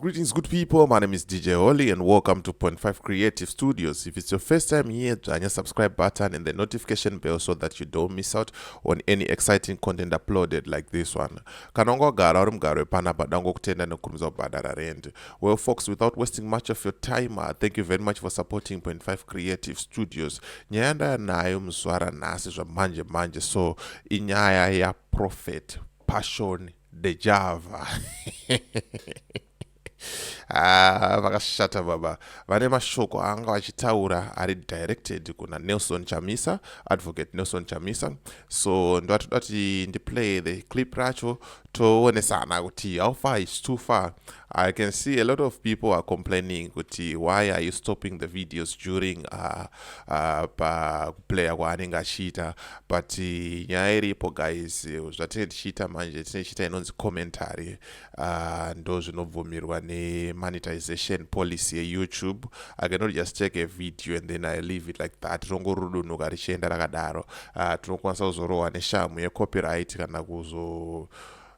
Greetings, good people. My name is DJ Holly, and welcome to Point Five Creative Studios. If it's your first time here, join the subscribe button and the notification bell so that you don't miss out on any exciting content uploaded like this one. Kanongo gara uri mugaro wepana padango kutenda nekukurumidza kubhadhara rent. Well, folks, without wasting much of your time, uh, thank you very much for supporting Point Five Creative Studios. Nyaya ndayanayo muzvara nhasi zvamanje manje, so inyaya ya prophet passion dejava ah, vakashata ah, baba vane mashoko aanga vachitaura ari directed kuna nelson chamisa advocate nelson chamisa so ndovatoda kuti ndiplay the clip racho toonesana kuti how far is too far I can see a lot of people are complaining kuti why are you stopping the videos during uh, uh, pakuplaya kwaanenge achiita but uh, nyaya iripo guys zvatinenge tichiita manje tinenge tichiita inonzi commentary uh, ndo zvinobvumirwa nemonetization policy yeyoutube i cannot just take a video and then i leave it like that rinongorudunhuka richienda rakadaro uh, tinokwanisa kuzorohwa neshamu yecopyright kana kuzo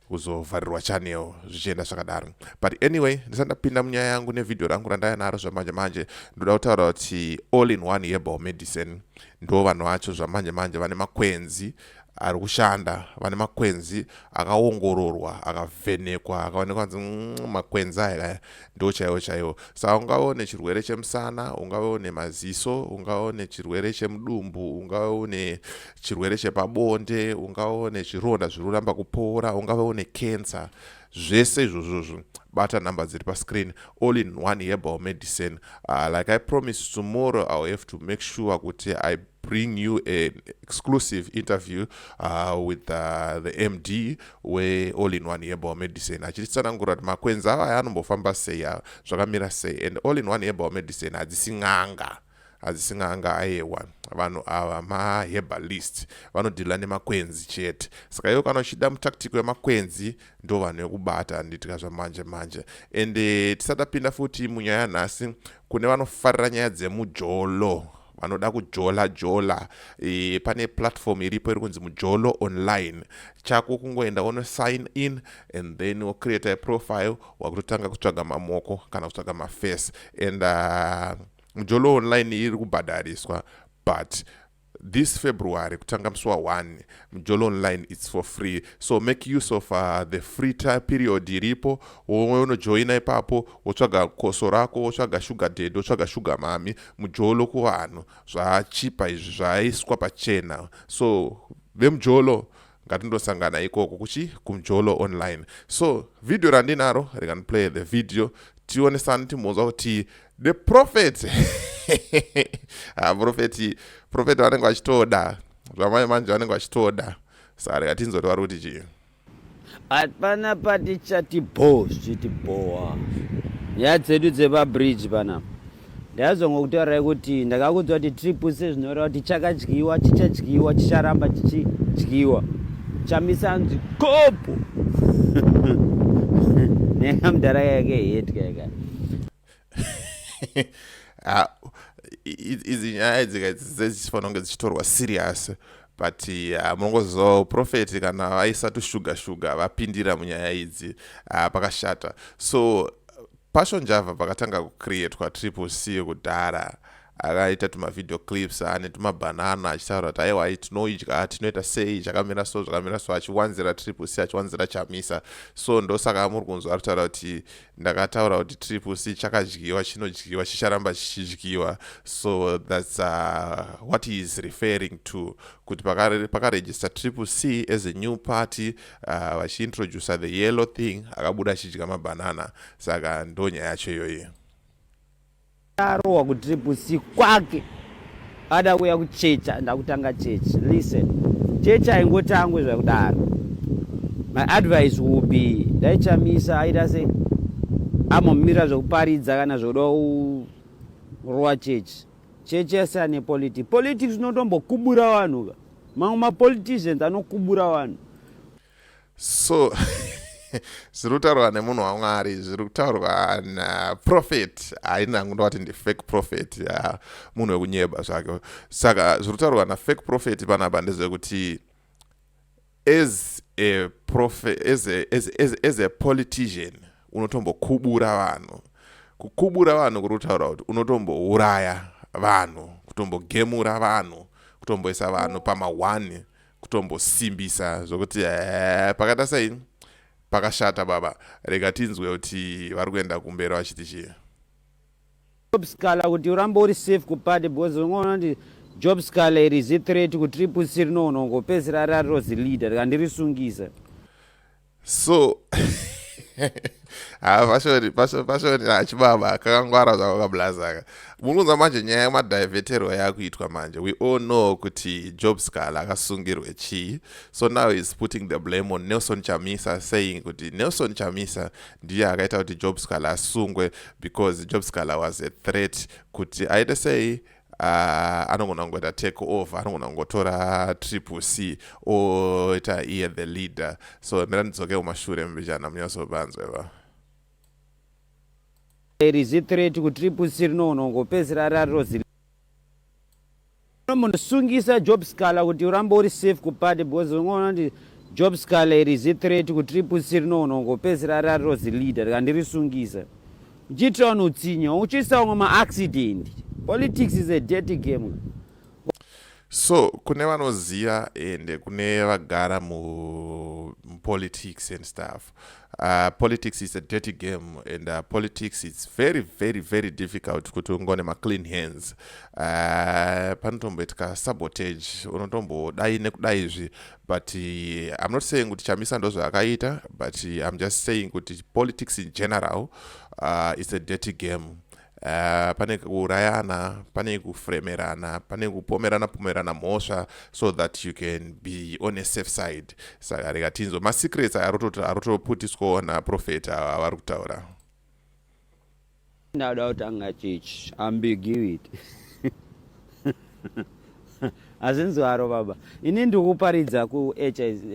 kuzovharirwa channel zvichienda zvakadaro but anyway ndisati ndapinda munyaya yangu nevhidhiyo rangu randaya naro zvamanje manje ndoda kutaura kuti all in one herbal medicine ndo vanhu vacho zvamanje manje vane makwenzi ari kushanda vane makwenzi akaongororwa akavhenekwa akaonekwa nzi mm, makwenzi aya kaya ndo chaiwo chaiwo sa ungave une chirwere chemusana ungave une maziso ungave une chirwere chemudumbu ungave une chirwere chepabonde ungava une zvironda zviri kuramba kupora ungava une cancer zvese izvozvozvo bata number dziri pascreen all in one herbal medicine uh, like i promise tomorrow ill have to make sure kuti i bring you an exclusive interview uh, with uh, the md weall in one herbal medicine achititsanangura kuti makwenzi ava aya anombofamba sei zvakamira sei and all in one herbal medicine hadzisi n'anga adzisin'anga ayewa vanhu ava maherbalist vanodhila nemakwenzi chete saka iwe kana uchida mutactic wemakwenzi ndo vanhu vekubata anditika zvamanje manje ende tisatapinda futi munyaya yanhasi kune vanofarira nyaya dzemujolo vanoda kujola jola e, pane platform iripo iri kunzi mujolo online chako kungoenda wono sign in and then wocreate a profile wakutotanga kutsvaga mamoko kana kutsvaga mafirce and uh, mjolo online iri kubhadhariswa but this february kutanga musi wa1 mjolo online its for free so make use of uh, the free time period iripo wonojoina ipapo wotsvaga koso rako wotsvaga shuga ded wotsvaga shuga mami mujolo kuvanhu zvaachipa izvi zvaaiswa pachena so vemujolo ngatindosangana ikoko kuchi kumjolo online so video randinaro rekandiplay the video tionesani timbonzwa kuti the prophet ah, profeti profeti vanenge vachitoda zvamai manje vanenge vachitoda saka reka tinzoti vari kuti chii hapana patichati bho zvichiti bhowa nyaya dzedu dzepabridge panapa ndakazongo kutaurai kuti ndakakuudza kuti tiri puse zvinoreva kuti chakadyiwa chichadyiwa chicharamba chichidyiwa chamisa anzi kopo neka mudhara yake hetya yaka ah, izi nyaya dzika dzichifanira kunge dzichitorwa serious but uh, munongoziva uprofeti kana vaisa tushuga shuga vapindira munyaya idzi uh, pakashata so Passion Java pakatanga kucreatwa Triple C kudhara akaita tumavideo clips ane tumabhanana achitaura kuti aiwa i tinoidya tinoita sei zvakamira so zvakamira so achiwanzira triple c achiwanzira chamisa so ndosaka muri kunzwa ari kutaura kuti ndakataura kuti triple c chakadyiwa chinodyiwa chicharamba chichidyiwa so thats uh, what he is referring to kuti pakarejista triple c as a new party uh, vachiintroducer the yellow thing akabuda achidya mabanana saka ndo nyaya yacho iyoyi arohwa kutriplec kwake ada kuya kuchecha ndakutanga chechi listen chechi aingotangwe zvakudaro my advice will be dai chamisa aita se amomira zvekuparidza kana zvoda kurowa chechi chechi yasiyane politics politics unotombokubura vanhu ka mamwe mapoliticians anokubura vanhu so zviri kutaurwa nemunhu wamwari zviri kutaurwa naprofet haina hangu ndovati ndifake profet ya munhu wekunyeba zvake saka zviri kutaurwa nafake profet panapa ndezvekuti as a prophet as a, as, as, as a politician unotombokubura vanhu kukubura vanhu kuri kutaura kuti unotombouraya vanhu kutombogemura vanhu kutomboisa vanhu pamahwani kutombosimbisa zvokuti eh, pakaita sei pakashata baba rega tinzwe kuti vari kuenda kumberi vachiti chii job scala kuti urambe uri safe kupade because ungoona kuti job scala iri zithreat kutriple c rinoona ungopedzisira rariro zileader rikandirisungisa so ah, pashoni pashoni achibaba ah, kakangwara zvako kablazaka mukunza manje nyaya yemadiveterwa yakuitwa manje we all know kuti job scal akasungirwe chii so now is putting the blame on nelson chamisa saying kuti nelson chamisa ndiye akaita kuti job scal asungwe because job scal was a threat kuti aite sei uh, anogona kungoita take over anogona kungotora triple c oita iye the leader so mira ndidzoke kumashure mbichana munyasobanzwa iva rizi threat kutriple c rinogona kungopedzisira rarirozi munosungisa job scala kuti urambe uri safe kupati because unoona kuti job scala rizi threat kutriple c rinogona kungopedzisira rarirozi leader rikandirisungisa uchiitira vanhu utsinye uchiisa vamwe maaccident politics is a dirty game so kune vanoziva ende kune vagara mupolitics and stuff uh, politics is a dirty game and uh, politics its very very very difficult kuti ungone maclean hands uh, panotomboitika sabotage unotombodai nekudai izvi but uh, i'm not saying kuti chamisa ndozvaakaita but uh, i'm just saying kuti politics in general uh, is a dirty game uh, pane kuurayana pane kufremerana pane kupomerana pomerana mhosva so that you can be on a safe side saka rega tinzwa masecrets arotoputiswawo naprofeta avari kutaura Ndada kutanga chechi ambiguity hazvinzi waro baba ini ndikuparidza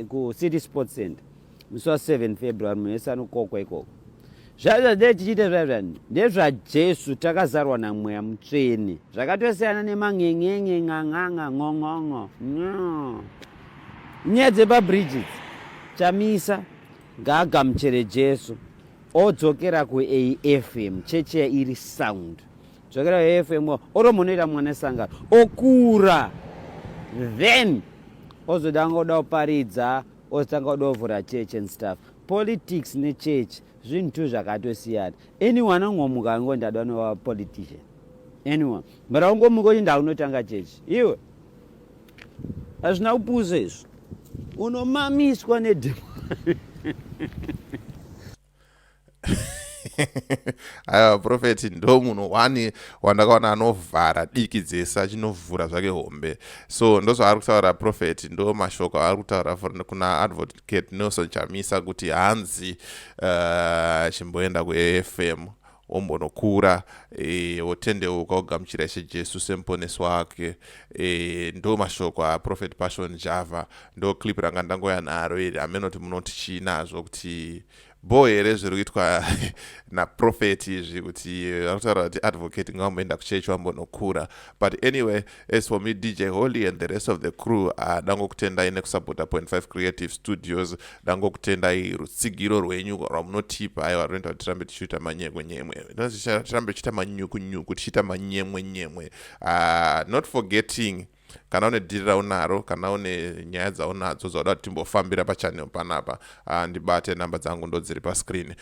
kucity sport center musi wa 7 february munhu wese anokokwa ikoko zvaizva dee tichiita zvaizvani ndezvajesu takazarwa namweya mutsvene zvakatosiyana nemangengenge nganganga ngongongo no nyaya dzepabridges chamisa gaaga muchere jesu odzokera kuafm cheche iri sound dzokera kuafm oro munoita mwana sangano okura then ozodanga kuda kuparidza ozotanga kuda kuvhura church and stuff politics nechurch zvinhu two zvakatosiyana anyone angomuka ango ndada nova politician anyone but aungomuka uchinda unotanga church iwe hazvina kupusa izvo unomamiswa nedemo aiwa profeti ndo munhu one wandakaona anovhara diki dzese achinovhura zvake hombe so ndozvaari kutaura profeti ndo mashoko aari kutaura kuna advocate nelson chamisa kuti hanzi eh, chimboenda uh, kuafm wombonokura e, wotendeuka wogamuchira ishe jesu semuponesi wake e, ndo mashoko aprofet passion java ndo clip ranga ndangoya naro iri amenoti munoti chii nazvo kuti bho here zviri kuitwa naprofet izvi kuti vanotaura kuti advocate ngavamboenda kuchechi vambonokura but anyway as for me dj holy and the rest of the crew uh, ah, dangokutendai nekusapota 5 creative studios dangokutendai rutsigiro rwenyu rwamunotipa aiwa rinoita kuti tirambe tichiita manyemwenyemwe tirambe tichiita manyukunyuku tichiita manyemwenyemwe uh, not forgetting kana une dhiri raunaro kana une nyaya dzaunadzo dzauda kuti timbofambira pachanel panapa ah, ndibate namba dzangu ndodziri pascreen